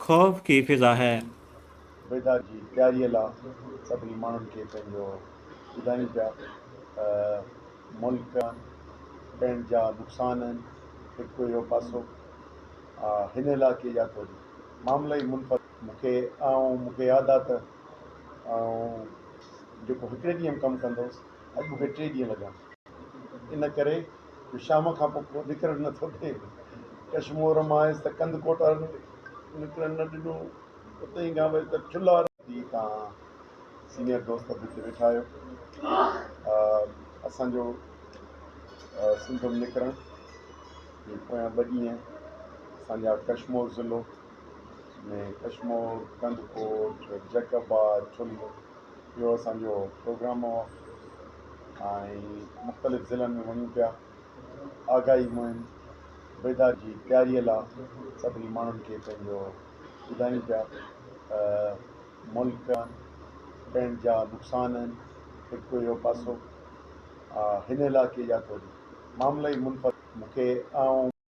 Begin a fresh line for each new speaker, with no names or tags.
خوف ڪي فضا هي. بيدار
جي تياريء لا سڀني ماڻهن کي پنهنجو ٻڌايون پيا ته ملڪ پڻ جا نقصان هن هڪ اهو پاسو آ هن علائقي جا ته وري معاملا ئي منفرد مون کي آئون مون کي ياد آ ته آئون جيڪو هڪڙي ڏينهن م ڪم ڪندو هوس اڄ مون کي ٽي ڏينهن لڳا ان ڪري. جو شام کان پوء ڪو نڪرڻ نه ٿو ڏئي. ڪش مور مانئس ته ڪنڌ ڪوٽائڻ نڪرڻ نه ڏنو. اتي ئي گانبيس ته ٺلهه هارائي. ٽي کان سينيئر دوست به اتي ويٺا هيو. اسان جو سنڌم نڪرڻ جي پويان ٻه ڏينهن اسان جا ڪش مور ضلعو ۾ ڪش مور، ڪنڌ ڪوٽ، جيڪب آباد، ٺلهه، اهو اسان جو پروگرام هو ۽ مختلف ضلعن ۾ وڃون پيا آگاهي مهم بيداري جي تياري لا سڀني ماڻهن کي پنهنجو ٻڌايون پيا ته ملڪ پڻ جا نقصان آهن هڪ اهو پاسو هن علائقي جا ته معاملا ئي منفرد مون کي آئون